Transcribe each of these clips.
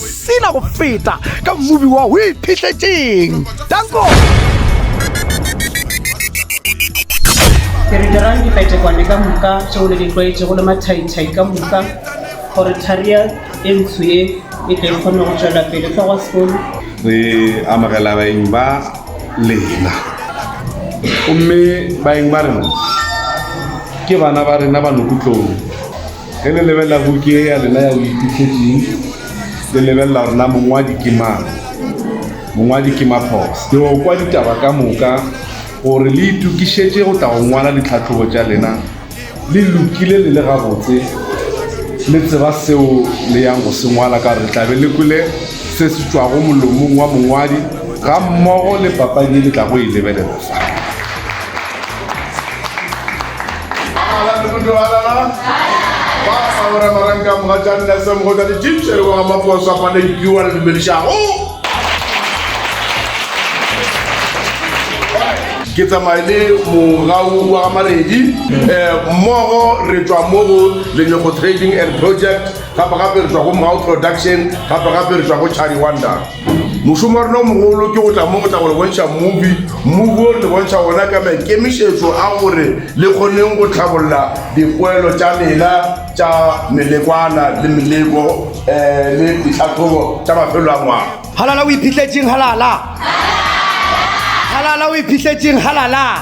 sila go feta ka mmubi wa o iphihletseng danko ke re dirang dipetšekwane ka moka tšeo le di tlwaetšego le mathaithai ka moka gore tharia e ntsho ye e tle e kgone go tšwela pele tlogo sekolo re amogela baeng ba lena gomme baeng ba rena ke bana ba rena ba nokutlong Ge le lebelela buki ye ya lena ya Boiphihletsing, le lebelela gore na mongwadi ke mang. Mongwadi ke Maphos. Ke yo kwa ditaba ka moka gore le itokišetše go tla go ngwala ditlhahlobo tša lena le lokile le le gabotse, le tseba seo le yang go se ngwala ka gore le tla be le kwele se se tšwago molomong wa mongwadi gammogo le papadi ye le tlago e lebelela fa. Ke tsamaye le mogau wa Gamaledi um mmogo re tšwa mo go Lenyoko Trading and Project gape gape re tšwa go Mogau Production gape gape re tšwa go Chari Wonder. mošomo wa rena o mogolo ke go tla mo go tla go le bontšha mobi mobi o le bontšha gona ka maikemišetšo a gore le kgoneng go tlhabolola dipoelo tša lena tša melekwana le meleko um le ditlhatlhobo tša mafelo a ngwaga halala o iphitletseng halala halala o iphitletseng halala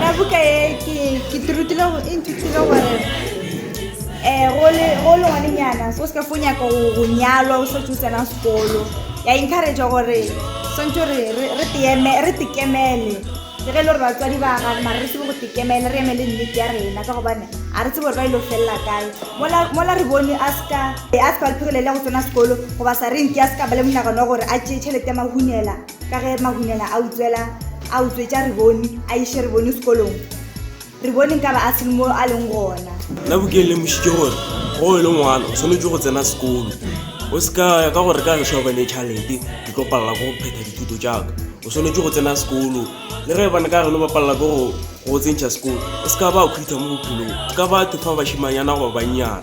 Ka buka ye ke ke tirutile go inthutile gore eh go le go le ngwane nyana so se ka fo nyaka go go nyalwa o setse o tsena sekolo ya encourage gore swantse re re re teme re tikemele le ge e le gore batswadi ba ga mara re tsebe go tikemele re emele nnete ya rena ka gobane a re tsebe gore ba ile go felela kae mola mola re bone a seka a seka ba lephegelele go tsena sekolo goba sa re nke a seka ba le monagano wa gore a tšee tšhelete ya mahunela ka ge mahunyela a utswela a utswetša re bone a iše re bone sekolong re bone nka ba a sele mo a leng gona nna bokeng le mošitše gore go e le ngwana o tshwanetse go tsena sekolo o se ka ya ka gore ka ge šobe le tšhalete ke tlo palela go phetha dithuto jaaka o tshwanetse go tsena sekolo le ge bane ka geno ba palela ke go go tsentšha sekolo o se ka ba khutha mo bophelong ka batho fa bashimanyana goba bannyana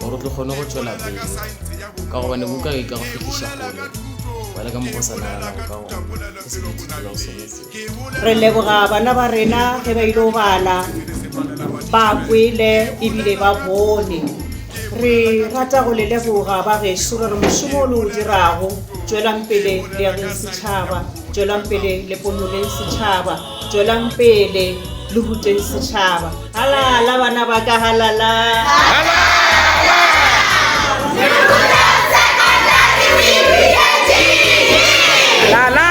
gore o tlo kgone go tšwela pele ka gobane buka e ka go fihliša kgole ba le ka mokgwa sa naganago ka gona ke se ke ithutela go sone se re leboga bana ba rena ge ba ile go bala ba kwele ebile ba bone re rata go le leboga ba geso re re mošomo o le o dirago tšwelang pele le ya ge setšhaba tšwelang pele le ponoleng setšhaba Tšwelang pele le ruteng setšhaba. Halala bana ba ka halala. Halala! Halala!